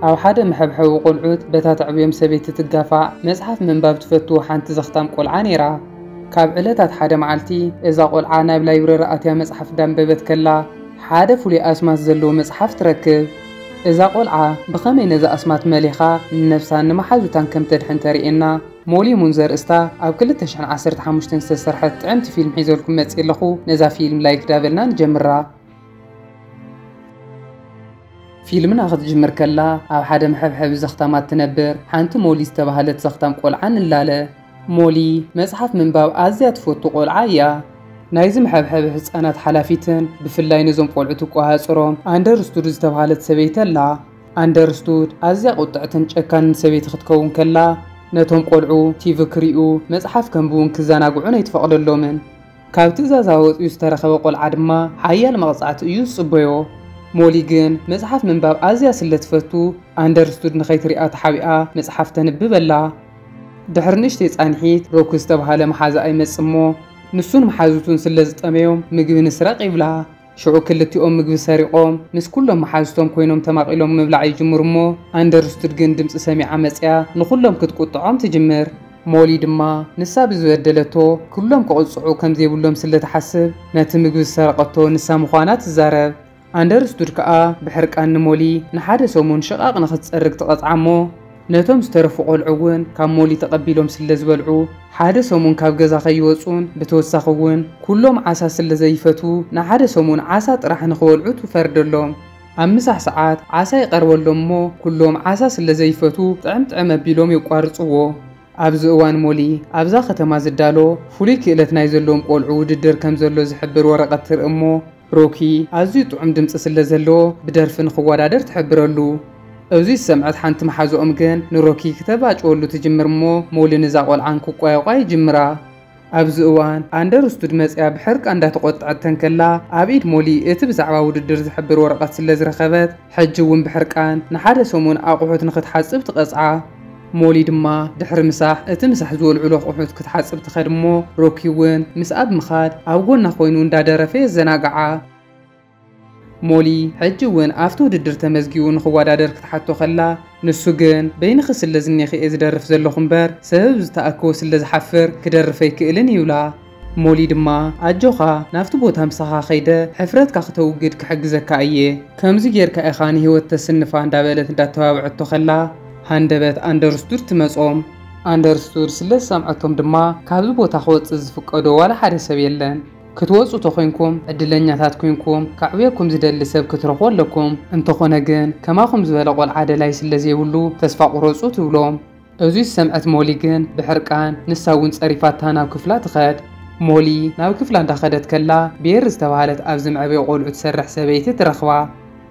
ኣብ ሓደ መሐብሐቢ ቆልዑት በታ ተዕብዮም ሰበይቲ ትጋፋእ መጽሓፍ ምንባብ ትፈቱ ሓንቲ ዘኽታም ቆልዓ ነይራ። ካብ ዕለታት ሓደ መዓልቲ እዛ ቆልዓ ናብ ላይብረሪ ኣትያ መጽሓፍ ዳንበበት ከላ ሓደ ፍሉይ ኣስማት ዘለዎ መጽሓፍ ትረክብ። እዛ ቆልዓ ብኸመይ ነዚ ኣስማት መሊኻ ንነብሳን ንመሓዙታን ከም ተድሕን ተርእየና። ሞሊ ሙን ዘርእስታ ኣብ ክልተ ሽሕን ዓሰርተ ሓሙሽተን ዝተሰርሐት ጥዕምቲ ፊልም ሒዘልኩም መጽየ ኣለኹ ነዛ ፊልም ላይክ ዳበልና ንጀምራ። ፊልምና ክትጅምር ከላ ኣብ ሓደ መሐብሐቢ ዘኽታማት ትነብር ሓንቲ ሞሊ ዝተባህለት ዘኽታም ቆልዓ ንላለ። ሞሊ መጽሓፍ ምንባብ ኣዝያ ትፈቱ ቆልዓ እያ። ናይዚ መሐብሐቢ ህጻናት ሓላፊትን ብፍላይ ነዞም ቆልዑ ትቆሃጽሮም ኣንደርስቱድ ዝተባህለት ሰበይቲ ኣላ። ኣንደርስቱድ ኣዝያ ቁጥዕትን ጨካንን ሰበይቲ ክትከውን ከላ፣ ነቶም ቆልዑ ቲቪ ክሪኡ፣ መጽሓፍ ከንብቡን ክዘናግዑን ኣይትፈቕደሎምን። ካብ ትእዛዛ ወጺኡ ዝተረኸበ ቆልዓ ድማ ሓያል መቕጻዕቲ እዩ ዝጽበዮ። ሞሊ ግን መጽሓፍ ምንባብ ኣዝያ ስለ ትፈቱ፣ ኣንደርስቱድ ንኸይትሪኣ ተሓቢኣ መጽሓፍ ተንብብ ኣላ። ድሕሪ ንእሽተይ ጻንሒት፣ ሮኪ ዝተባህለ መሓዝኣ ይመጽእ'ሞ፣ ንሱን መሓዙቱን ስለ ዝጠመዮም ምግቢ ንስረቕ ይብላ። ሽዑ ክልቲኦም ምግቢ ሰሪቖም ምስ ኩሎም መሓዙቶም ኮይኖም ተማቒሎም ምብላዕ ይጅምሩ እሞ ኣንደርስቱድ ግን ድምጺ ሰሚዓ መጺኣ ንኹሎም ክትቁጥዖም ትጅምር። ሞሊ ድማ ንሳ ብዝበደለቶ ክሎም ክቕጽዑ ከም ዘይብሎም ስለ ትሓስብ ነቲ ምግቢ ዝሰረቐቶ ንሳ ምዃና ትዛረብ። ኣንደርስቱድ ከኣ ብሕርቃን ንሞሊ ንሓደ ሰሙን ሽቓቕ ንኽትጸርግ ትቐጽዓ እሞ፣ ነቶም ዝተረፉ ቆልዑ እውን ካብ ሞሊ ተቐቢሎም ስለዝበልዑ ሓደ ሰሙን ካብ ገዛ ከይወጹን ብተወሳኺ እውን ኩሎም ዓሳ ስለዘይፈትዉ ንሓደ ሰሙን ዓሳ ጥራሕ ንኽበልዑ ትፈርደሎም። ኣብ ምሳሕ ሰዓት ዓሳ ይቐርበሎም እሞ ኩሎም ዓሳ ስለዘይፈትዉ ጥዕም ጥዕም ኣቢሎም የቋርጽዎ። ኣብዚ እዋን ሞሊ ኣብዛ ከተማ ዝዳሎ ፍሉይ ክእለት ናይ ዘለዎም ቆልዑ ውድድር ከምዘሎ ዝሕብር ወረቐት ትርኢ እሞ ሮኪ ኣዝዩ ጥዑም ድምጺ ስለ ዘለዎ ብደርፊ ንኽወዳደር ትሕብረሉ። እዙይ ዝሰምዐት ሓንቲ መሓዝኦም ግን ንሮኪ ክተባጭወሉ ትጅምር እሞ ሞሊ ንዛ ቆልዓ እንክቋየቋ ይጅምራ። ኣብዚ እዋን ኣንደርስቱድ መጺኣ ብሕርቃን እንዳተቖጠዐት ተንከላ ኣብ ኢድ ሞሊ እቲ ብዛዕባ ውድድር ዝሕብር ወረቐት ስለ ዝረኸበት ሕጂ እውን ብሕርቃን ንሓደ ሰሙን ኣቑሑት ንኽትሓጽብ ትቐጽዓ። ሞሊ ድማ ድሕሪ ምሳሕ እቲ ምሳሕ ዝወልዑሉ ኣቑሑት ክትሓጽብ ትኸድ እሞ ሮኪ እውን ምስኣ ብምኻድ ኣብ ጎና ኮይኑ እንዳደረፈ የዘናግዓ። ሞሊ ሕጂ እውን ኣብቲ ውድድር ተመዝጊቡ ንኽወዳደር ክትሓቶ ከላ ንሱ ግን በይንኺ ስለ ዝኔኺ እየ ዝደርፍ ዘለኹ እምበር ሰበብ ዝተኣከቦ ስለ ዝሓፍር ክደርፍ ኣይክእልን ይብላ። ሞሊ ድማ ኣጆኻ ናብቲ ቦታ ምሳኻ ከይደ ሕፍረትካ ክተውግድ ክሕግዘካ እየ ከምዚ ጌርካ ኢኻ ንህይወት ተስንፋ እንዳበለት እንዳተባብዐቶ ከላ ሃንደበት ኣንደርስቱድ ትመጾም። ኣንደርስቱድ ስለ ዝሰምዐቶም ድማ ካብዚ ቦታ ክወጽእ ዝፍቀዶ ዋላ ሓደ ሰብ የለን ክትወጹ ተኮይንኩም ዕድለኛታት ኮንኩም ከዕብየኩም ዝደሊ ሰብ ክትረኽቡ ኣለኩም እንተኾነ ግን ከማኹም ዝበለ ቆልዓ ደላይ ስለ ዘይብሉ ተስፋ ቁረጹ ትብሎም። እዚ ዝሰምዐት ሞሊ ግን ብሕርቃን ንሳ እውን ጸሪፋታ ናብ ክፍላ ትኸድ። ሞሊ ናብ ክፍላ እንዳኸደት ከላ ቤሪ ዝተባህለት ኣብ ዝምዕበዩ ቆልዑ ትሰርሕ ሰበይቲ ትረኽባ።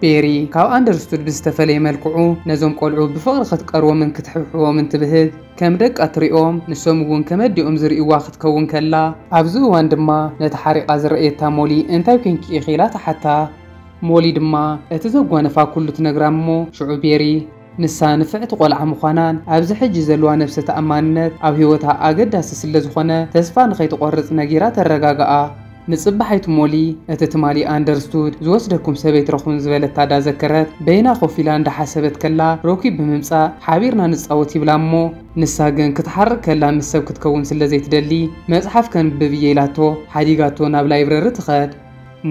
ቤሪ ካብ ኣንደርስቱድ ብዝተፈለየ መልክዑ ነዞም ቆልዑ ብፍቕሪ ክትቀርቦምን ክትሕብሕቦምን ትብህግ። ከም ደቃ ትሪኦም ንሶም እውን ከም ኣዲኦም ዝርእዩዋ ክትከውን ከላ። ኣብዚ እዋን ድማ ነታ ሓሪቓ ዝረኣየታ ሞሊ እንታይ ኮይንኪ ኢኺ ኢላ ትሓታ። ሞሊ ድማ እቲ ዘጓነፋ ኩሉ ትነግራ እሞ ሽዑ ቤሪ። ንሳ ንፍዕቲ ቆልዓ ምዃናን ኣብዚ ሕጂ ዘለዋ ነብሰ ተኣማንነት ኣብ ህይወታ ኣገዳሲ ስለዝኾነ ተስፋ ንኸይትቖርጽ ነጊራ ተረጋግኣ። ንጽባሒቱ ሞሊ እቲ ትማሊ ኣንደርስቱድ ዝወስደኩም ሰብ ኣይትረኽቡን ዝበለታ ዳዘከረት በይና ኮፍ ኢላ እንዳሓሰበት ከላ ሮኪ ብምምጻእ ሓቢርና ንጻወት ይብላ እሞ ንሳ ግን ክትሓርቅ ከላ ምስ ሰብ ክትከውን ስለዘይትደሊ መጽሓፍ ከንብብ እየ ኢላቶ ሓዲጋቶ ናብ ላይብረሪ ትኸድ።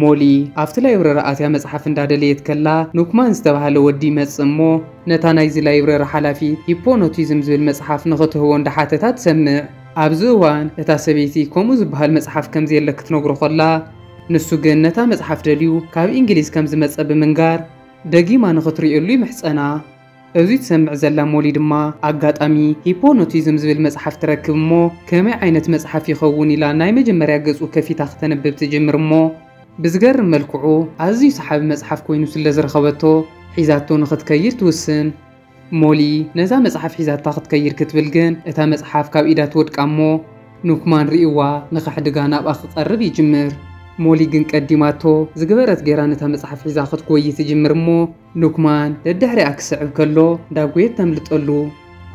ሞሊ ኣብቲ ላይብረሪ ኣትያ መጽሓፍ እንዳ ደለየት ከላ ኑክማን ዝተባህለ ወዲ ይመጽእ እሞ ነታ ናይዚ ላይብረሪ ሓላፊት ሂፖኖቲዝም ዝብል መጽሓፍ ንኽትህቦ እንዳ ሓተታ ትሰምዕ። ኣብዚ እዋን እታ ሰበይቲ ከምኡ ዝበሃል መጽሓፍ ከም ዘየለ ክትነግሮ ከላ ንሱ ግን ነታ መጽሓፍ ደልዩ ካብ ኢንግሊዝ ከም ዝመጸ ብምንጋር ደጊማ ንኽትርእየሉ ይምሕጸና። እዙይ ትሰምዕ ዘላ ሞሊ ድማ ኣጋጣሚ ሂፖኖቲዝም ዝብል መፅሓፍ ትረክብ እሞ ከመይ ዓይነት መፅሓፍ ይኸውን ኢላ ናይ መጀመርያ ገፁ ከፊታ ክተንብብ ትጅምር እሞ ብዝገርም መልክዑ ኣዝዩ ሰሓቢ መፅሓፍ ኮይኑ ስለዝረኸበቶ ሒዛቶ ንኽትከይድ ትውስን። ሞሊ ነዛ መፅሓፍ ሒዛታ ክትከይድ ክትብል ግን እታ መፅሓፍ ካብ ኢዳ ትወድቃ እሞ ኑክማን ሪእዋ ንኸሕድጋ ናብኣ ክቐርብ ይጅምር። ሞሊ ግን ቀዲማቶ ዝገበረት ገይራ ነታ መፅሓፍ ሒዛ ክትጎዪ ትጅምር እሞ፣ ሉክማን ደድሕሪኣ ክስዕብ ከሎ ዳጉየት ተምልጠሉ።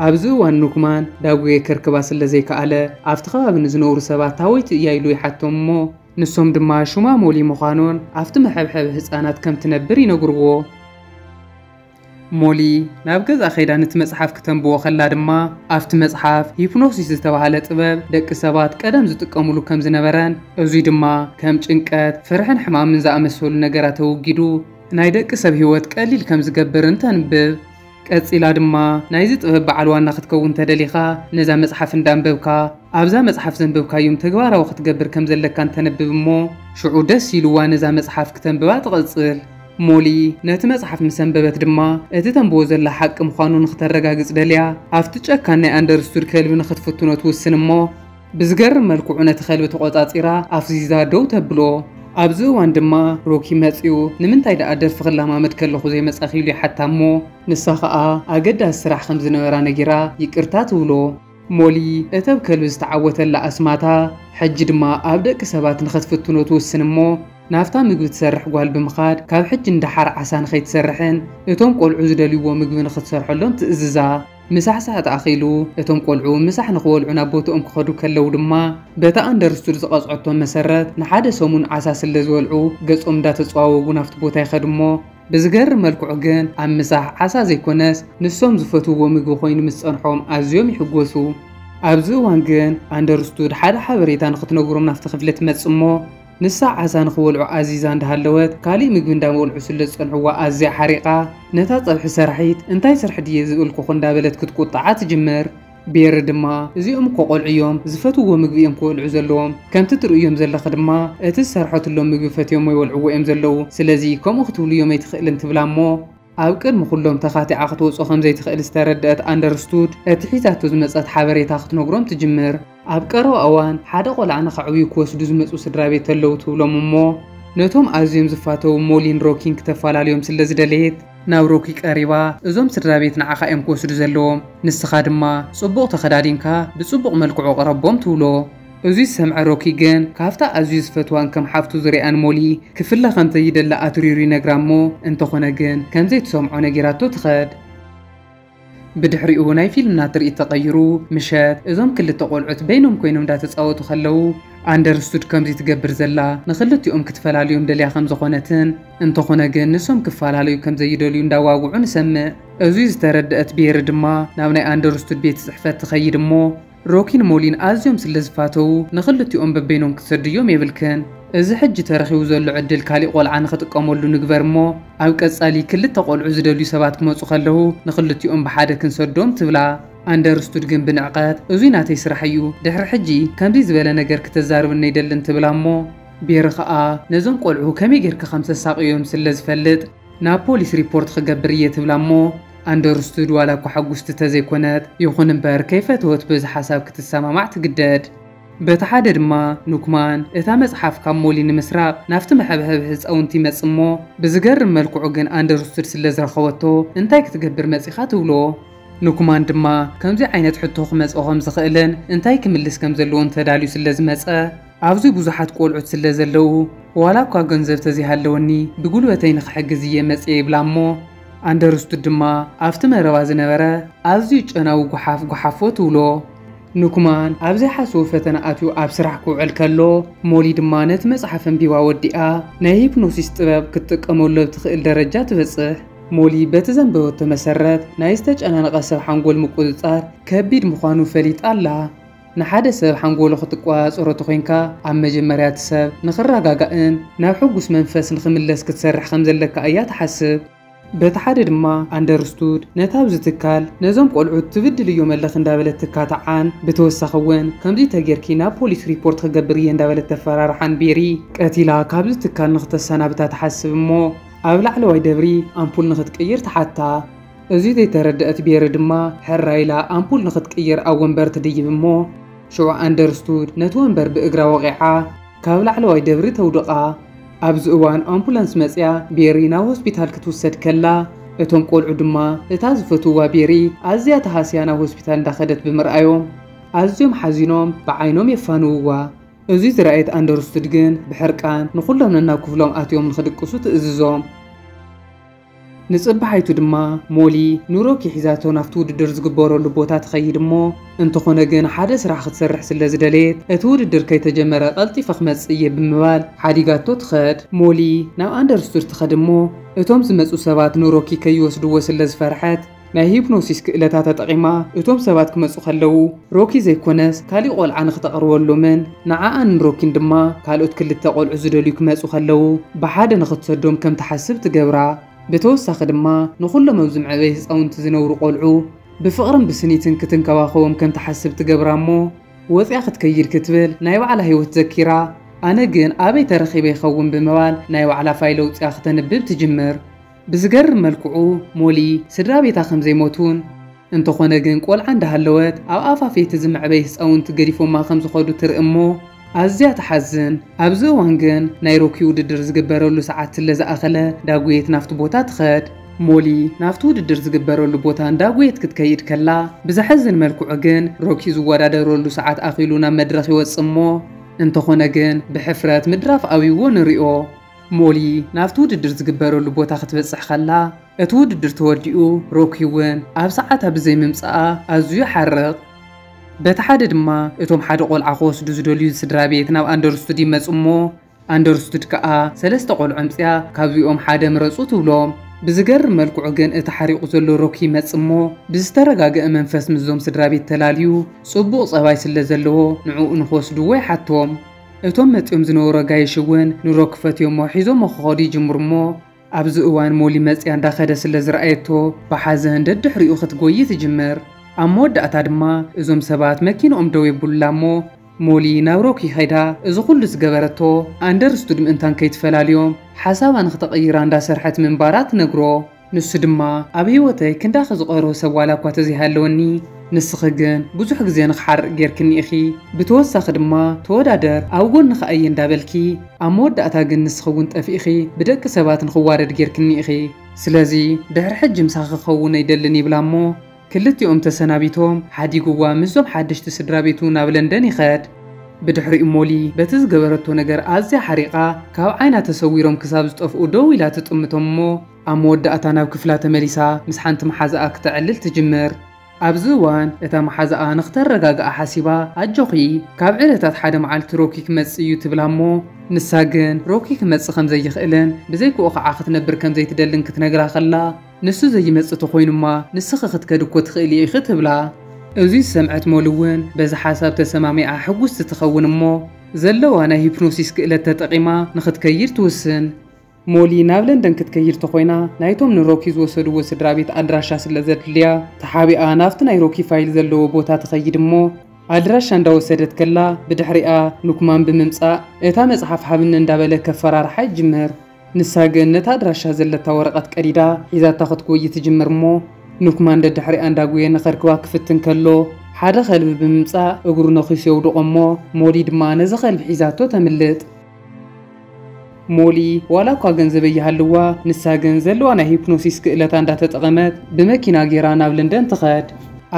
ኣብዚ እዋን ኑክማን ዳጉየ ከርክባ ስለ ዘይከኣለ ኣብቲ ከባቢ ንዝነብሩ ሰባት ታወይቲ እያ ኢሉ ይሓቶም እሞ ንሶም ድማ ሹማ ሞሊ ምዃኖን ኣብቲ መሐብሐቢ ህጻናት ከም ትነብር ይነግርዎ። ሞሊ ናብ ገዝኣ ከይዳ ነቲ መጽሓፍ ክተንብቦ ከላ ድማ ኣብቲ መጽሓፍ ሂፕኖሲስ ዝተባህለ ጥበብ ደቂ ሰባት ቀደም ዝጥቀምሉ ከም ዝነበረን እዙይ ድማ ከም ጭንቀት፣ ፍርሕን ሕማምን ዝኣመሰሉ ነገራት ኣወጊዱ ናይ ደቂ ሰብ ህይወት ቀሊል ከም ዝገብር እንተንብብ። ቀጺላ ድማ ናይዚ ጥበብ በዓል ዋና ክትከውን እንተደሊኻ ነዛ መጽሓፍ እንዳንበብካ ኣብዛ መጽሓፍ ዘንበብካዮም ተግባራዊ ክትገብር ከም ዘለካ እንተንብብ እሞ ሽዑ ደስ ኢሉዋ ነዛ መጽሓፍ ክተንብባ ትቐጽል። ሞሊ ነቲ መጽሓፍ ምስ ኣንበበት ድማ እቲ ተንብቦ ዘላ ሓቂ ምዃኑ ንክተረጋግጽ ደልያ ኣብቲ ጨካን ናይ ኣንደርስቱድ ከልቢ ንክትፍትኖ ትውስን እሞ፣ ብዝገርም መልክዑ ነቲ ከልቢ ተቖጻጺራ ኣፍዚዛ ደው ተብሎ። ኣብዚ እዋን ድማ ሮኪ መጺኡ ንምንታይ ደኣ ደርፊ ክለማመድ ከለኹ ዘይመጻኺ ኢሉ ይሓታ እሞ ንሳ ከኣ ኣገዳሲ ስራሕ ከም ዝነበራ ነጊራ ይቅርታ ትብሎ። ሞሊ እተብ ከልቢ ዝተዓወተላ ኣስማታ ሕጂ ድማ ኣብ ደቂ ሰባት ንኽትፍትኖ ትውስን እሞ ናብታ ምግቢ ትሰርሕ ጓል ብምኻድ ካብ ሕጂ ንደሓር ዓሳ ንኸይትሰርሕን እቶም ቆልዑ ዝደልይዎ ምግቢ ንኽትሰርሐሎም ትእዝዛ። ምሳሕ ሳዕ ተኣኺሉ፣ እቶም ቆልዑ ምሳሕ ንኽበልዑ ናብ ቦትኦም ክኸዱ ከለዉ ድማ፣ በታ ኣንደርስቱድ ዝቐጽዐቶም መሰረት፣ ንሓደ ሰሙን ዓሳ ስለ ዝበልዑ፣ ገጾም እንዳተጸዋወጉ ናብቲ ቦታ ይኸዱ'ሞ፣ ብዝገርም መልክዑ ግን ኣብ ምሳሕ ዓሳ ዘይኮነስ፣ ንሶም ዝፈትውዎ ምግቢ ኮይኑ ምስ ጸንሖም ኣዝዮም ይሕጎሱ። ኣብዚ እዋን ግን ኣንደርስቱድ ሓደ ሓበሬታ ንኽትነግሮም ናብቲ ክፍሊ ትመጽእ'ሞ፣ ንሳ ዓሳ ንኽበልዑ ኣዚዛ እንዳሃለወት ካሊእ ምግቢ እንዳበልዑ ስለዝጸንሕዋ ኣዝያ ሓሪቓ ነታ ጸብሒ ሰራሒት እንታይ ስርሒ ድየ ዝበልኩኹ እንዳበለት ክትቁጠዓ ትጅምር። ቤሪ ድማ እዚኦም እኮ ቆልዑ እዮም ዝፈትውዎ ምግቢ እዮም ክበልዑ ዘለዎም ከምቲ ትርእዮም ዘለኺ ድማ እቲ ዝሰርሐትሎም ምግቢ ፈትዮሞ ይበልዕዎ እዮም ዘለዉ ስለዚ ከምኡ ክትብሉ እዮም ኣይትኽእልን ትብላ እሞ ኣብ ቅድሚ ኩሎም ተኻቲዓ ክትወጾ ከምዘይትኽእል ዝተረደኣት ኣንደርስቱድ፣ እቲ ሒዛቶ ዝመጸት ሓበሬታ ክትነግሮም ትጅምር። ኣብ ቀረባ እዋን ሓደ ቆልዓ ንኸዕብዩ ክወስዱ ዝመጹ ስድራቤት ኣለዉ ትብሎም እሞ፣ ነቶም ኣዝዮም ዝፋተዉ ሞሊን ሮኪን ክተፈላልዮም ስለዝደለየት፣ ናብ ሮኪ ቀሪባ እዞም ስድራቤት ንዓኻ እዮም ክወስዱ ዘለዎም፣ ንስኻ ድማ ጽቡቕ ተኸዳዲንካ ብጽቡቕ መልክዑ ቅረቦም ትብሎ። እዚ ዝሰምዐ ሮኪ ግን ካብታ ኣዝዩ ዝፈትዋን ከም ሓፍቱ ዝሪኣን ሞሊ ክፍለ ከም ዘይደሊ ኣትሪሩ ይነግራ እሞ እንተኾነ ግን ከም ዘይትሰምዖ ነጊራቶ ትኸድ። ብድሕሪኡ ናይ ፊልምና ትርኢት ተቐይሩ ምሸት እዞም ክልተ ቆልዑት በይኖም ኮይኖም ዳተጻወቱ ከለው ኣንደርስቱድ ከምዚ ትገብር ዘላ ንኽልቲኦም ክትፈላልዮም ደልያ ከም ዝኾነትን እንተኾነ ግን ንሶም ክፋላለዩ ከም ዘይደልዩ እንዳዋግዑ ንሰምዕ። እዙይ ዝተረደእት ቤሪ ድማ ናብ ናይ ኣንደርስቱድ ቤትጽሕፈት ትኸይድ እሞ ሮኪን ሞሊን ኣዝዮም ስለ ዝፋተዉ ንኽልቲኦም በበይኖም ክትሰድዮም የብልክን። እዚ ሕጂ ተረኺቡ ዘሎ ዕድል ካሊእ ቆልዓ ንኽጥቀመሉ ንግበር እሞ ኣብ ቀጻሊ ክልተ ቆልዑ ዝደልዩ ሰባት ክመጹ ከለዉ ንኽልቲኦም ብሓደ ክንሰዶም ትብላ። ኣንደርስቱድ ግን ብንዕቀት እዙይ ናተይ ስራሕ እዩ ድሕሪ ሕጂ ከምዙይ ዝበለ ነገር ክተዛርብኒ ኣይደልን ትብላ እሞ ቤሪ ኸኣ ነዞም ቆልዑ ከመይ ጌርካ ከም ተሳቅዮም ስለ ዝፈልጥ ናብ ፖሊስ ሪፖርት ክገብር እየ ትብላ እሞ ኣንደርስቱድ ዋላ እኳ ሕጉስቲ ተዘይኮነት ይኹን እምበር ከይፈተወት በዚ ሓሳብ ክትሰማማዕ ትግደድ። በቲ ሓደ ድማ ኑክማን እታ መጽሓፍ ካብ ሞሊ ንምስራቕ ናብቲ መሐብሐቢ ህጻውንቲ ይመጽእ እሞ ብዝገርም መልክዑ ግን ኣንደርስቱድ ስለ ዝረኸበቶ እንታይ ክትገብር መጺኻ ትብሎ። ኑክማን ድማ ከምዚ ዓይነት ሕቶ ክመጽኦ ከም ዝኽእልን እንታይ ክምልስ ከም ዘለዎን ተዳልዩ ስለ ዝመጸ፣ ኣብዚ ብዙሓት ቆልዑት ስለ ዘለዉ ዋላ እኳ ገንዘብ ተዘይሃለወኒ ብጉልበተይ ንኽሕግዝ እየ መጺኤ ይብላ እሞ ኣንደርስቱድ ድማ ኣብቲ መረባ ዝነበረ ኣዝዩ ጨናዊ ጉሓፍ ጉሓፎ ትብሎ። ንኩማን ኣብ ዘይሓሰቦ ፈተና ኣትዩ ኣብ ስራሕ ክውዕል ከሎ ሞሊ ድማ ነቲ መጽሓፍ ኣንቢባ ወዲኣ ናይ ሂፕኖሲስ ጥበብ ክትጥቀመሉ ኣብ ትኽእል ደረጃ ትበጽሕ። ሞሊ በቲ ዘንበበቶ መሰረት ናይ ዝተጨናነቐ ሰብ ሓንጎል ምቁጽጻር ከቢድ ምዃኑ ፈሊጣ ኣላ። ንሓደ ሰብ ሓንጎሉ ክትቆጻጸሮ ተኾይንካ፣ ኣብ መጀመርያ እቲ ሰብ ንኽራጋጋእን ናብ ሕጉስ መንፈስ ንኽምለስ ክትሰርሕ ከም ዘለካ እያ ትሓስብ። በቲ ሓደ ድማ ኣንደርስቱድ ነታ ኣብዚ ትካል ነዞም ቆልዑት ትብድል እዮ መለኽ እንዳበለት ትካታዓን ብተወሳኺ እውን ከምዚ ተጌርኪ ናብ ፖሊስ ሪፖርት ክገብር እየ እንዳበለት ተፈራርሓን ቤሪ ቀቲላ ካብዚ ትካል ንኽተሰናብታ ትሓስብ እሞ ኣብ ላዕለዋይ ደብሪ ኣምፑል ንኽትቅይር ትሓታ። እዚ ዘይተረደኣት ቤሪ ድማ ሕራይ ኢላ ኣምፑል ንኽትቅይር ኣብ ወንበር ትድይብ እሞ ሽዑ ኣንደርስቱድ ነቲ ወንበር ብእግራ ወቒዓ ካብ ላዕለዋይ ደብሪ ተውድቓ። ኣብዚ እዋን ኣምፑላንስ መጺኣ ቤሪ ናብ ሆስፒታል ክትውሰድ ከላ እቶም ቆልዑ ድማ እታ ዝፈትውዋ ቤሪ ኣዝያ ተሃስያ ናብ ሆስፒታል እንዳኸደት ብምርኣዮም ኣዝዮም ሓዚኖም ብዓይኖም የፋንውዋ። እዚ ዝረኣየት ኣንደርስቱድ ግን ብሕርቃን ንኹሎም ነናብ ክፍሎም ኣትዮም ንኽድቅሱ ትእዝዞም። ንጽባሓይቱ ድማ ሞሊ ንሮኪ ሒዛቶ ናብቲ ውድድር ዝግበረሉ ቦታ ትኸይድ እሞ እንተኾነ ግን ሓደ ስራሕ ክትሰርሕ ስለ ዝደለየት እቲ ውድድር ከይተጀመረ ቀልጢፈ ክመጽእ እየ ብምባል ሓዲጋቶ ትኸድ። ሞሊ ናብ ኣንደርስቱድ ትኸድ እሞ እቶም ዝመጹ ሰባት ንሮኪ ከይወስድዎ ስለ ዝፈርሐት፣ ናይ ሂፕኖሲስ ክእለታ ተጠቒማ እቶም ሰባት ክመጹ ከለዉ ሮኪ ዘይኮነስ ካሊእ ቆልዓ ንክተቕርበሎምን ንዓኣን ንሮኪን ድማ ካልኦት ክልተ ቆልዑ ዝደልዩ ክመጹ ከለዉ ብሓደ ንክትሰዶም ከም ትሓስብ ትገብራ። ብተወሳኺ ድማ ንኹሎም ኣብዚ መዕበዪ ህጻውንቲ ዝነብሩ ቆልዑ ብፍቕርን ብስኒትን ክትንከባኸቦም ከም ትሓስብ ትገብራ እሞ ወጺኣ ክትከይድ ክትብል ናይ ባዕላ ህይወት ዘኪራ ኣነ ግን ኣበይ ተረኺበ ይኸውን ብምባል ናይ ባዕላ ፋይል ኣውጺኣ ክተንብብ ትጅምር። ብዝገርም መልክዑ ሞሊ ስድራ ቤታ ከም ዘይሞቱን እንተኾነ ግን ቆልዓ እንዳሃለወት ኣብ ኣፋፌቲ ዝምዕበይ ህጻውንቲ ገዲፎማ ከም ዝኸዱ ትርኢ እሞ ኣዝያ ትሓዝን። ኣብዚ እዋን ግን ናይ ሮኪ ውድድር ዝግበረሉ ሰዓት ስለ ዝኣኸለ ዳጉየት ናብቲ ቦታ ትኸድ። ሞሊ ናብቲ ውድድር ዝግበረሉ ቦታ እንዳጉየት ክትከይድ ከላ ብዘሕዝን መልክዑ ግን ሮኪ ዝወዳደረሉ ሰዓት ኣኺሉ ናብ መድረኽ ይወጽእ እሞ እንተኾነ ግን ብሕፍረት ምድራፍ ኣብይዎ ንሪኦ። ሞሊ ናብቲ ውድድር ዝግበረሉ ቦታ ክትበጽሕ ከላ፣ እቲ ውድድር ተወዲኡ ሮኪ'ውን ኣብ ሰዓታ ብዘይምምጽኣ ኣዝዩ ይሓርቕ። በቲ ሓደ ድማ እቶም ሓደ ቆልዓ ክወስዱ ዝደልዩ ስድራቤት ናብ ኣንደርስቱድ ይመጹ እሞ ኣንደርስቱድ ከኣ ሰለስተ ቆልዑ ኣምጺኣ ካብዚኦም ሓደ ምረጹ ትብሎም። ብዝገርም መልክዑ ግን እቲ ሓሪቑ ዘሎ ሮኪ ይመጽእ እሞ ብዝተረጋገኣ መንፈስ ምስዞም ስድራቤት ተላልዩ ጽቡቕ ጸባይ ስለዘለዎ ንዕኡ ንክወስድዎ ይሓቶም። እቶም መጺኦም ዝነበሩ ኣጋይሽ እውን ንሮ ክፈትዮሞ ሒዞሞ ክኸዱ ይጅምሩ እሞ ኣብዚ እዋን ሞሊ መጺኣ እንዳኸደ ስለ ዝረኣየቶ ብሓዘን ደድሕሪኡ ክትጎዪ ትጅምር። ኣብ መወዳእታ ድማ እዞም ሰባት መኪንኦም ደው የብሉላ እሞ ሞሊ ናብ ሮክ ይኸዳ እዚ ኩሉ ዝገበረቶ ኣንደርስቱድ ምእንታን ከይትፈላልዮም ሓሳባ ንክተቕይራ እንዳሰርሐት ምንባራ ትነግሮ። ንሱ ድማ ኣብ ህይወተይ ክንዳኺ ዝቐርቡ ሰብ ዋላ እኳ ተዘይሃለወኒ ንስኺ ግን ብዙሕ ግዜ ንኽሓርቅ ጌርክኒ ኢኺ ብተወሳኺ ድማ ተወዳደር ኣብ ጎንኻ እየ እንዳበልኪ ኣብ መወዳእታ ግን ንስኺ እውን ጠፊእኺ ብደቂ ሰባት ንኽዋረድ ጌርክኒ ኢኺ ስለዚ ድሕሪ ሕጂ ምሳኺ ክኸውን ኣይደልን ይብላ እሞ ክልቲኦም ተሰናቢቶም፣ ሓዲጉዋ ምስዞም ሓደሽቲ ስድራቤቱ ናብ ለንደን ይኸድ። ብድሕሪኡ ሞሊ በቲ ዝገበረቶ ነገር ኣዝያ ሓሪቓ፣ ካብ ዓይና ተሰዊሮም ክሳብ ዝጠፍኡ ደው ኢላ ትጥምቶም እሞ ኣብ መወዳእታ ናብ ክፍላ ተመሊሳ ምስ ሓንቲ መሓዛኣ ክተዕልል ትጅምር። ኣብዚ እዋን እታ መሓዛኣ ንክተረጋግኣ ሓሲባ ኣጆኺ ካብ ዕለታት ሓደ መዓልቲ ሮኪ ክመጽእ እዩ ትብላ እሞ ንሳ ግን ሮኪ ክመጽእ ከምዘይኽእልን ብዘይክኡ ከኣ ክትነብር ከምዘይትደልን ክትነግራ ከላ ንሱ ዘይመጽእ ተኾይኑማ ንስኺ ክትከዲ እኮ ትኽእሊ ኢኺ ትብላ። እዙይ ዝሰምዐት ሞሊ እውን በዚ ሓሳብ ተሰማሚዓ ሕጉስቲ ትኸውን እሞ ዘለዋ ናይ ሂፕኖሲስ ክእለት ተጠቒማ ንኽትከይድ ትውስን። ሞሊ ናብ ለንደን ክትከይድ ተኾይና ናይቶም ንሮኪ ዝወሰድዎ ስድራቤት ኣድራሻ ስለ ዘድልያ ተሓቢኣ ናብቲ ናይ ሮኪ ፋይል ዘለዎ ቦታ ትኸይድ እሞ ኣድራሻ እንዳወሰደት ከላ ብድሕሪኣ ኑክማን ብምምጻእ እታ መጽሓፍ ሃብኒ እንዳበለ ከፈራርሓ ይጅምር። ንሳ ግን ነታ ኣድራሻ ዘለታ ወረቐት ቀዲዳ ሒዛታ ክትጎዪ ትጅምር እሞ ኑክማን ደድሕሪኣ እንዳጎየ ንኸርክባ ክፍትን ከሎ ሓደ ኸልቢ ብምምጻእ እግሩ ነኺሱ የውድቖ እሞ ሞሊ ድማ ነዚ ኸልቢ ሒዛቶ ተምልጥ። ሞሊ ዋላ እኳ ገንዘበ ይሃልዋ ንሳ ግን ዘለዋ ናይ ሂፕኖሲስ ክእለታ እንዳተጠቐመት ብመኪና ጌራ ናብ ለንደን ትኸድ።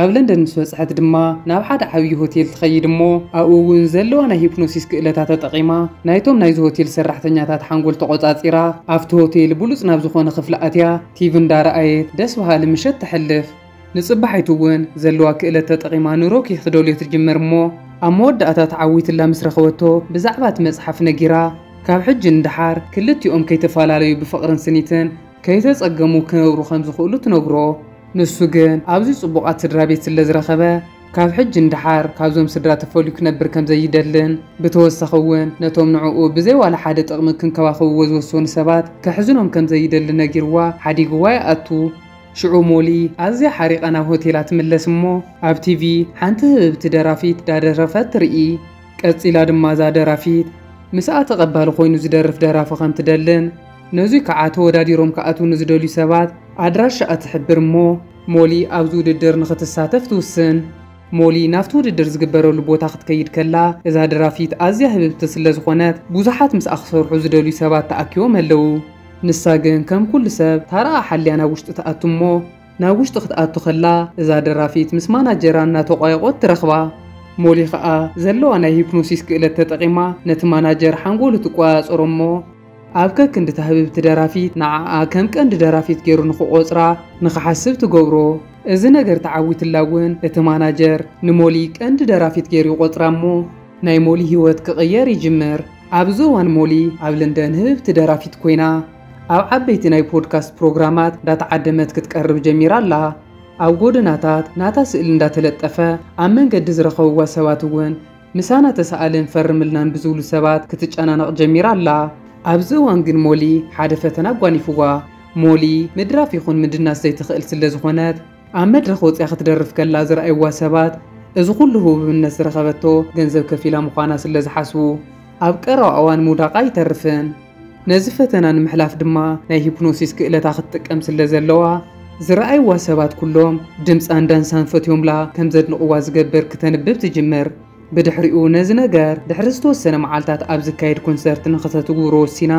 ኣብ ለንደን ምስ በጽሐት ድማ ናብ ሓደ ዓብዪ ሆቴል ትኸይድ እሞ ኣብኡ እውን ዘለዋ ናይ ሂፕኖሲስ ክእለታ ተጠቒማ ናይቶም ናይዚ ሆቴል ሰራሕተኛታት ሓንጎል ተቖጻጺራ ኣብቲ ሆቴል ብሉጽ ናብ ዝኾነ ክፍሊ ኣትያ ቲቪ እንዳረኣየት ደስ በሃሊ ምሸት ተሕልፍ። ንጽባሒቱ እውን ዘለዋ ክእለት ተጠቒማ ንሮኪ ክትደልዮ ትጅምር እሞ ኣብ መወዳእታ ተዓዊትላ ምስ ረኸበቶ ብዛዕባ እቲ መጽሓፍ ነጊራ ካብ ሕጂ ንደሓር ክልቲኦም ከይተፈላለዩ ብፍቕርን ስኒትን ከይተጸገሙ ክነብሩ ከም ዝኽእሉ ትነግሮ። ንሱ ግን ኣብዚ ጽቡቓት ስድራቤት ስለ ዝረኸበ፣ ካብ ሕጂ ንደሓር ካብዞም ስድራ ተፈልዩ ክነብር ከም ዘይደልን ብተወሳኺ እውን ነቶም ንዕኡ ብዘይ ዋላ ሓደ ጥቕሚ ክንከባኸብዎ ዝወሰኑ ሰባት ከሕዝኖም ከም ዘይደሊ ነጊርዋ ሓዲግዋ ይኣቱ። ሽዑ ሞሊ ኣዝያ ሓሪቓ ናብ ሆቴላ ትምለስ እሞ ኣብ ቲቪ ሓንቲ ህብብቲ ደራፊት ዳደረፈት ትርኢ። ቀጺላ ድማ እዛ ደራፊት ምስኣ ተቐባሊ ኮይኑ ዝደርፍ ደራፊ ከም ትደልን ነዙይ ከዓ ተወዳዲሮም ክኣትው ንዝደልዩ ሰባት ኣድራሻኣ ትሕብር እሞ ሞሊ ኣብዚ ውድድር ንኽትሳተፍ ትውስን። ሞሊ ናብቲ ውድድር ዝግበረሉ ቦታ ክትከይድ ከላ እዛ ደራፊት ኣዝያ ህብብቲ ስለ ዝኾነት ብዙሓት ምስኣ ክሰርሑ ዝደልዩ ሰባት ተኣኪቦም ኣለው። ንሳ ግን ከም ኩሉ ሰብ ታራኣ ሓልያ ናብ ውሽጢ ትኣቱ እሞ ናብ ውሽጢ ክትኣቱ ከላ እዛ ደራፊት ምስ ማናጀራ እናተቋየቖት ትረኽባ። ሞሊ ከኣ ዘለዋ ናይ ሂፕኖሲስ ክእለት ተጠቒማ ነቲ ማናጀር ሓንጎሉ ትቆጻጸሮ እሞ ኣብ ከክንዲ እታ ህብብቲ ደራፊት ንዓኣ ከም ቀንዲ ደራፊት ገይሩ ንኽቖጽራ ንኽሓስብ ትገብሮ። እዚ ነገር ተዓዊትላ እውን እቲ ማናጀር ንሞሊ ቀንዲ ደራፊት ገይሩ ይቖጽራ እሞ ናይ ሞሊ ህይወት ክቕየር ይጅምር። ኣብዚ እዋን ሞሊ ኣብ ለንደን ህብብቲ ደራፊት ኮይና። ኣብ ዓበይቲ ናይ ፖድካስት ፕሮግራማት እንዳተዓደመት ክትቀርብ ጀሚራ ኣላ። ኣብ ጎደናታት ናታ ስእሊ እንዳተለጠፈ፣ ኣብ መንገዲ ዝረኸብዋ ሰባት እውን ምሳና ተሳኣልን ፈርምልናን ብዝብሉ ሰባት ክትጨናነቕ ጀሚራ ኣላ። ኣብዚ እዋን ግን ሞሊ ሓደ ፈተና ኣጓኒፍዋ። ሞሊ ምድራፍ ይኹን ምድናስ ዘይትኽእል ስለዝኾነት፣ ኣብ መድረኽ ወጺኣ ክትደርፍ ከላ ዝረኣይዋ ሰባት፣ እዚ ኹሉ ህቡብነት ዝረኸበቶ ገንዘብ ከፊላ ምዃና ስለ ዝሓስቡ፣ ኣብ ቀረባ እዋን ምውዳቓ ኣይተርፍን። ነዚ ፈተና ንምሕላፍ ድማ ናይ ሂፕኖሲስ ክእለታ ክትጥቀም ስለ ዘለዋ፣ ዝረኣይዋ ሰባት ኩሎም ድምጻን ዳንሳን ፈትዮምላ ከም ዘድንቕዋ ዝገብር ክተንብብ ትጅምር። ብድሕሪኡ ነዚ ነገር ድሕሪ ዝተወሰነ መዓልታት ኣብ ዝካየድ ኮንሰርት ንኽተትግብሮ ወሲና።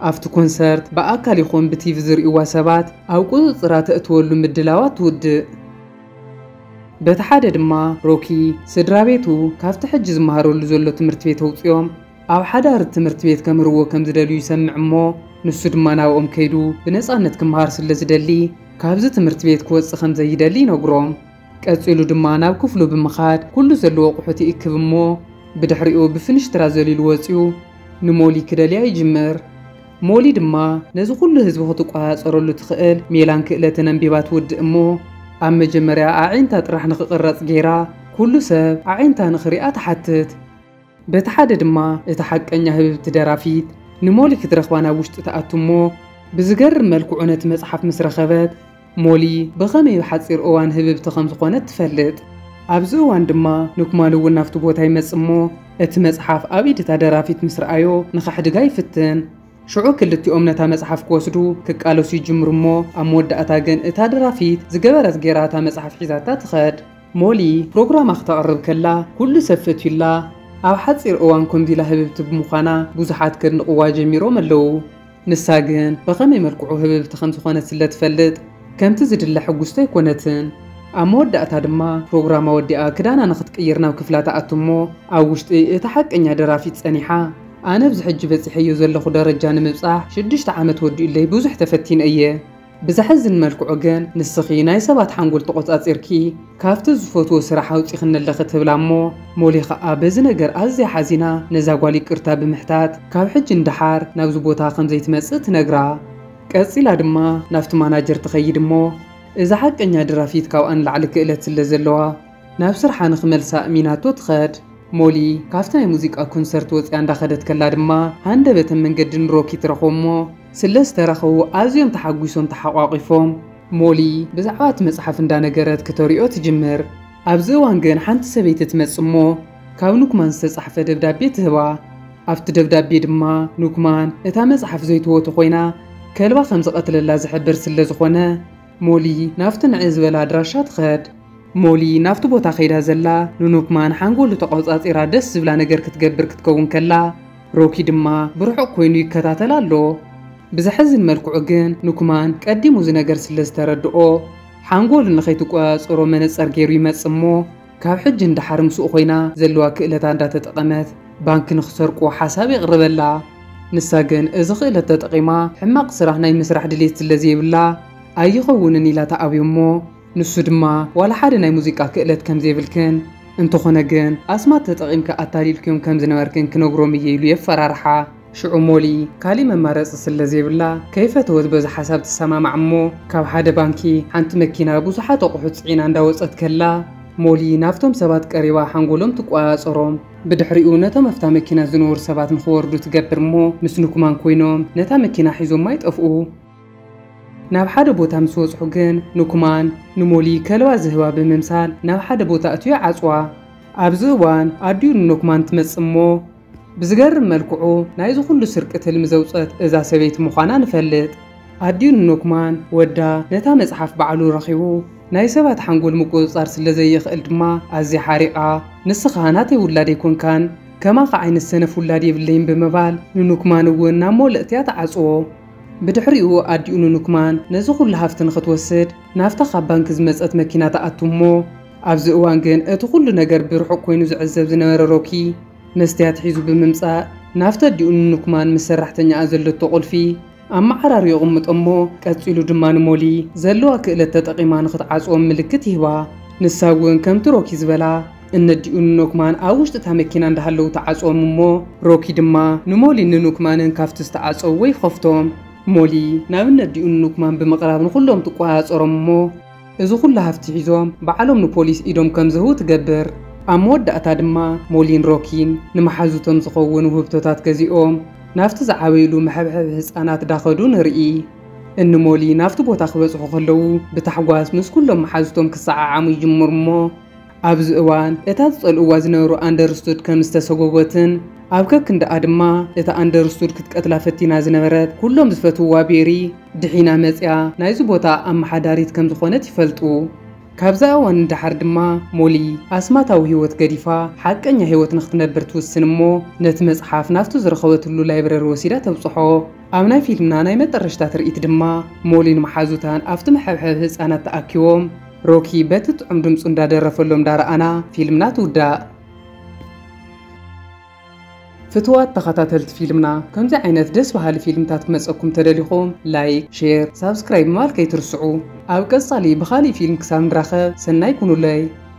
ኣብቲ ኮንሰርት ብኣካል ይኹን ብቲቪ ዝርእይዋ ሰባት ኣብ ቁጽጽራ ተእትወሉ ምድላዋት ትውድእ። በቲ ሓደ ድማ ሮኪ ስድራቤቱ ካብቲ ሕጂ ዝመሃረሉ ዘሎ ትምህርቲ ቤት ኣውጺኦም ኣብ ሓዳሪ ትምህርቲ ቤት ከምርዎ ከም ዝደልዩ ይሰምዕ እሞ ንሱ ድማ ናብኦም ከይዱ ብነጻነት ክመሃር ስለ ዝደሊ ካብዚ ትምህርቲ ቤት ክወጽእ ከም ዘይደሊ ይነግሮም። ቀጺሉ ድማ ናብ ክፍሉ ብምኻድ ኩሉ ዘለዎ ኣቑሑት ይእክብ እሞ ብድሕሪኡ ብፍንሽትራ ዘሊሉ ወጺኡ ንሞሊ ክደልያ ይጅምር። ሞሊ ድማ ነዚ ኩሉ ህዝቢ ክትቆጻጸረሉ ትኽእል ሜላን ክእለትን ኣንቢባ ትውድእ እሞ ኣብ መጀመርያ ኣዒንታ ጥራሕ ንኽቕረጽ ገይራ ኩሉ ሰብ ኣዒንታ ንኽሪኣ ትሓትት። በቲ ሓደ ድማ እታ ሓቀኛ ህብብቲ ደራፊት ንሞሊ ክትረኽባ ናብ ውሽጢ ትኣቱ እሞ ብዝገርም መልክዑ ነቲ መጽሓፍ ምስ ረኸበት ሞሊ ብኸመይ ኣብ ሓጺር እዋን ህብብቲ ከም ዝኾነት ትፈልጥ። ኣብዚ እዋን ድማ ንኩማል እውን ናብቲ ቦታ ይመጽእ እሞ እቲ መጽሓፍ ኣብ ኢድ እታ ደራፊት ምስ ረኣዮ ንኸሕድጋ ይፍትን። ሽዑ ክልቲኦም ነታ መጽሓፍ ክወስዱ ክቃለሱ ይጅምሩ እሞ ኣብ መወዳእታ ግን እታ ደራፊት ዝገበረት ገይራ እታ መጽሓፍ ሒዛታ ትኸድ። ሞሊ ፕሮግራማ ክተቕርብ ከላ ኩሉ ሰብ ፈትዩላ። ኣብ ሓጺር እዋን ከምዚ ኢላ ህብብቲ ብምዃና ብዙሓት ከድንቕዋ ጀሚሮም ኣለዉ። ንሳ ግን ብኸመይ መልክዑ ህብብቲ ከም ዝኾነት ስለ ትፈልጥ ከምቲ ዝድለ ሕጉስቲ ኣይኮነትን። ኣብ መወዳእታ ድማ ፕሮግራማ ወዲኣ ክዳና ንኽትቅይር ናብ ክፍላ ትኣቱ እሞ ኣብ ውሽጢ እታ ሓቀኛ ደራፊት ጸኒሓ። ኣነ ኣብዚ ሕጂ በጺሐዮ ዘለኹ ደረጃ ንምብጻሕ ሽዱሽተ ዓመት ወዲኡለይ ብዙሕ ተፈቲነ እየ። ብዘሕዝን መልክዑ ግን ንስኺ ናይ ሰባት ሓንጎል ተቖጻጺርኪ ካብቲ ዝፈትዎ ስራሕ ኣውጺኽነለኺ ትብላ እሞ ሞሊ ከኣ በዚ ነገር ኣዝያ ሓዚና ነዛ ጓል ይቅርታ ብምሕታት ካብ ሕጂ ንደሓር ናብዚ ቦታ ከም ዘይትመጽእ ትነግራ። ቀጺላ ድማ ናብቲ ማናጀር ትኸይድ እሞ እዛ ሓቀኛ ደራፊት ካብኣ ንላዕሊ ክእለት ስለ ዘለዋ ናብ ስርሓ ንኽመልሳ ኣእሚናቶ ትኸድ። ሞሊ ካብቲ ናይ ሙዚቃ ኮንሰርት ወጺኣ እንዳኸደት ከላ ድማ ሃንደበት ኣብ መንገዲ ንሮኪት ረኽቦም'ሞ ስለ ዝተራኸቡ ኣዝዮም ተሓጒሶም ተሓቋቚፎም። ሞሊ ብዛዕባ እቲ መጽሓፍ እንዳነገረት ክተርእዮ ትጅምር። ኣብዚ እዋን ግን ሓንቲ ሰበይቲ ትመጽእ'ሞ ካብ ኑክማን ዝተጻሕፈ ደብዳቤ ትህባ። ኣብቲ ደብዳቤ ድማ ኑክማን እታ መጽሓፍ ዘይትዎ ተኾይና ከልባ ከም ዝቐትለላ ዝሕብር ስለ ዝኾነ፣ ሞሊ ናብቲ ንዕእ ዝበላ ኣድራሻ ትኸድ። ሞሊ ናብቲ ቦታ ከይዳ ዘላ ንኖክማን ሓንጎሉ ተቖጻጺራ ደስ ዝብላ ነገር ክትገብር ክትከውን ከላ ሮኪ ድማ ብርሑቕ ኮይኑ ይከታተላ ኣሎ። ብዘሕዝን መልክዑ ግን ኑክማን ቀዲሙ እዚ ነገር ስለ ዝተረድኦ ሓንጎሉ ንኸይትቆጻጸሮ መነጸር ጌሩ ይመጽእ እሞ ካብ ሕጂ ንደሓር ምስኡ ኮይና ዘለዋ ክእለታ እንዳተጠቐመት ባንኪ ንክሰርቁ ሓሳብ የቕርበላ። ንሳ ግን እዚ ክእለት ተጠቒማ ሕማቕ ስራሕ ናይ ምስራሕ ድሌት ስለዘይብላ ኣይኸውንን ኢላ ትኣብዮ እሞ ንሱ ድማ ዋላ ሓደ ናይ ሙዚቃ ክእለት ከምዘይብልክን እንተኾነ ግን ኣስማት ተጠቒምኪ ኣታሊልክዮም ከምዝነበርክን ክነግሮም እየ ኢሉ የፈራርሓ። ሽዑ ሞሊ ካሊእ መማረፂ ስለ ዘይብላ ከይፈተወት በዚ ሓሳብ ትሰማማዕ እሞ ካብ ሓደ ባንኪ ሓንቲ መኪና ብዙሓት ኣቑሑ ፅዒና እንዳወፀት ከላ ሞሊ ናብቶም ሰባት ቀሪባ ሓንጎሎም ትቆፃፀሮም ብድሕሪኡ ነቶም ኣፍታ መኪና ዝነበሩ ሰባት ንኽወርዱ ትገብር እሞ ምስ ንኩማን ኮይኖም ነታ መኪና ሒዞማ ይጠፍኡ። ናብ ሓደ ቦታ ምስ በፅሑ ግን ንኩማን ንሞሊ ከለዋ ዝህባ ብምምሳል ናብ ሓደ ቦታ ኣትዩ ይዓፅዋ። ኣብዚ እዋን ኣዲኡ ንንኩማን ትመፅእ እሞ ብዝገርም መልክዑ ናይዚ ኩሉ ስርቂ ትልሚ ዘውጸት እዛ ሰበይቲ ምዃና ንፈልጥ። ኣዲኡ ንኖክማን፣ ወዳ፣ ነታ መጽሓፍ ባዕሉ ረኺቡ። ናይ ሰባት ሓንጎል ምቁጽጻር ስለ ዘይኽእል ድማ ኣዝያ ሓሪቓ፣ ንስኻ ናተይ ውላድ ኣይኮንካን፣ ከማኻ ዓይነት ሰነፍ ውላድ የብለይን ብምባል ንኑክማን እውን ናብ ሞለእትያ ትዓጽዎ። ብድሕሪኡ ኣዲኡ ንኑክማን ነዚ ኩሉ ሃፍቲ ንኽትወስድ ናብታ ካብ ባንኪ ዝመጸት መኪና ትኣቱ እሞ ኣብዚ እዋን ግን እቲ ኩሉ ነገር ብርሑቕ ኮይኑ ዝዕዘብ ዝነበረ ሮኪ፣ መስትያት ሒዙ ብምምጻእ ናብቲ ኣዲኡ ንኑክማን ምስ ሰራሕተኛኣ ዘለቶ ቁልፊ ኣመዓራርዩ የቕምጦ እሞ ቀጺሉ ድማ ንሞሊ ዘለዋ ክእለት ተጠቒማ ንኽትዓጽዎም ምልክት ይህባ። ንሳ እውን ከምቲ ሮኪ ዝበላ እነዲኡ ንኖክማን ኣብ ውሽጢ እታ መኪና እንዳሃለዉ ትዓጽዎም እሞ ሮኪ ድማ ንሞሊን ንኑክማንን ካብቲ ዝተዓጸውዎ ይኸፍቶም። ሞሊ ናብ እነዲኡ ንኑክማን ብምቕራብ ንኹሎም ትቆጻጸሮም እሞ፣ እዚ ኩሉ ሃፍቲ ሒዞም ባዕሎም ንፖሊስ ኢዶም ከም ዝህቡ ትገብር። ኣብ መወዳእታ ድማ ሞሊን ሮኪን ንመሓዙቶም ዝኸውን ውህብቶታት ገዚኦም ናብቲ ዝዓበዩሉ መሐብሐቢ ህጻናት ዳኸዱ ንርኢ። እኒ ሞሊ ናብቲ ቦታ ክበጽሑ ከለዉ ብታሕጓስ ምስ ኩሎም መሓዙቶም ክሰዓዓሙ ይጅምሩ'ሞ፣ ኣብዚ እዋን እታ ዝጸልኡዋ ዝነበሩ ኣንደርስቱድ ከም ዝተሰጎጎትን ኣብ ከክንዳኣ ድማ እታ ኣንደርስቱድ ክትቀትላ ፈቲና ዝነበረት ኩሎም ዝፈትውዋ ቤሪ ድሒና መጺኣ ናይዚ ቦታ ኣመሓዳሪት ከም ዝኾነት ይፈልጡ። ካብዛ እዋን ንደሓር ድማ ሞሊ ኣስማታዊ ህይወት ገዲፋ ሓቀኛ ህይወት ንኽትነብር ትውስን እሞ ነቲ መጽሓፍ ናብቲ ዝረኸበትሉ ላይብረሪ ወሲዳ ተብጽሖ። ኣብ ናይ ፊልምና ናይ መጠረሽታ ትርኢት ድማ ሞሊን መሓዙታን ኣብቲ መሐብሐቢ ህጻናት ተኣኪቦም ሮኪ በቲ ጥዑም ድምፁ እንዳደረፈሎም እንዳረኣና ፊልምና ትውዳእ። ፍትዋት ተኸታተልቲ ፊልምና ከምዚ ዓይነት ደስ በሃሊ ፊልምታት ክመፀኩም ተደሊኹም ላይክ፣ ሼር፣ ሳብስክራይብ ምባል ከይትርስዑ። ኣብ ቀፃሊ ብኻሊእ ፊልም ክሳብ ንራኸብ ሰናይ ኩኑለይ።